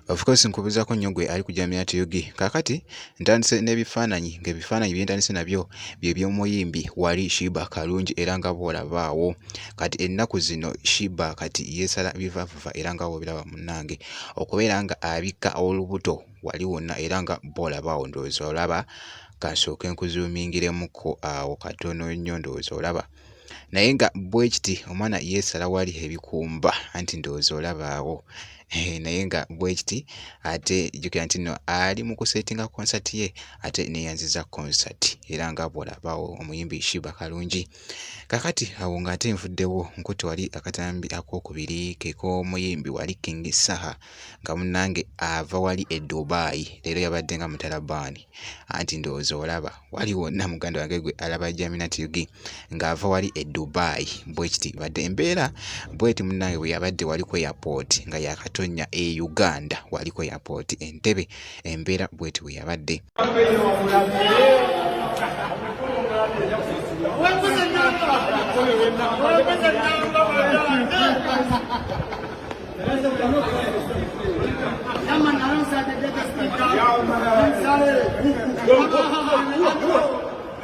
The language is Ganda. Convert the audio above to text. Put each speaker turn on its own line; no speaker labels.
of course nkubuzaako nnyo gwe ali ku jamia tug kakati ntandise n'ebifaananyi ng'ebifaananyi bye ntandise nabyo bye by'omuyimbi wali shiba kalungi era nga bwolabaawo kati ennaku zino shiba kati yeesala bivavuva era nga bwobiraba munnange okubeera nga abikka olubuto wali wonna era nga bwolabaawo ndowooza olaba kansooke nkuzuumingiremuko awo katono nnyo ndowooza olaba naye nga bwekiti omwana yeesala wali ebikumba anti ndowooza olabaawo eh, naye nga bwekiti ate jukira nti no ali mu kusetinga konsati ye ate neyanziza konsati era nga bwolabaawo omuyimbi shiba kalungi kakati awo nga ate nvuddewo nkutte wali akatambi akokubiri kekomuyimbi wali king saha nga munnange ava wali e Dubai leero yabadde nga mutalabaani anti ndowooza olaba wali wonna muganda wange gwe alaba Jamina TV ng'ava wali e Dubai bwe kiti badde embeera bweti munnange bwe yabadde wali ku airport nga yaakatonnya e Uganda wali ku airport Entebbe. embeera bweti bwe yabadde.